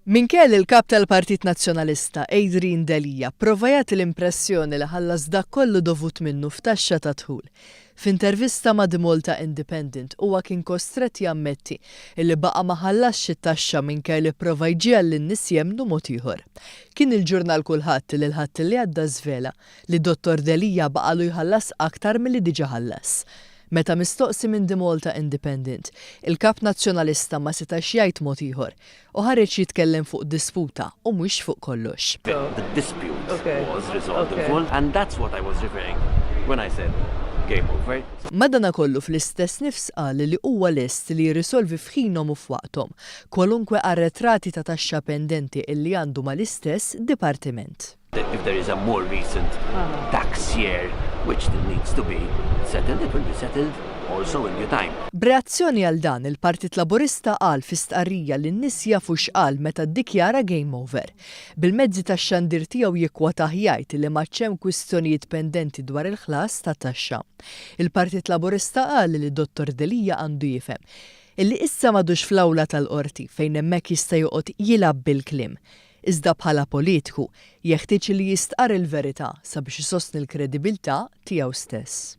Minkejja li l-Kap tal-Partit Nazzjonalista, Adrian Delia, pprova jagħti l-impressjoni li ħallas dak kollu dovut minnu f'taxxa tad-dħul, f'intervista ma' The Malta Independent huwa kien kostrett jammetti illi baqa' ma ħallasx it-taxxa minkejja li pprova jġiegħel lin-nies jemmnu mod ieħor. Kien il-ġurnal Kulħadd li l-Ħadd li għadda żvela li Dottor Delia baqagħlu jħallas aktar milli diġà ħallas. Meta mistoqsi minn The Malta Independent, il-Kap Nazzjonalista ma setax jgħid mod ieħor u ħareġ jitkellem fuq disputa u mhux fuq kollox. The dispute was resolved in full and that's what I was referring when I said game over. Madanakollu fl-istess nifs qal li huwa lest li jirrisolvi f'ħinhom u f'waqthom kwalunkwe arretrati ta' taxxa pendenti illi għandu mal-istess dipartiment. If there is a more recent tax year which still needs to be settled, it will be settled also in due time. B'reazzjoni għal dan, il-Partit Laburista qal fi stqarrija li n-nies jafu x'qal meta ddikjara game over. Bil-mezzi tax-xandir tiegħu jikkwotah jgħid li m'għadx hemm kwistjonijiet pendenti dwar il-ħlas ta' taxxa. Il-Partit Laburista qal li Dottor Delia għandu jifhem illi issa m'għadux fl-awla tal-Qorti fejn hemmhekk jista' joqgħod jilgħab bil-kliem. iżda bħala politiku jeħtieġ li jistqarr il-verità sabiex isostni l-kredibilità tiegħu stess.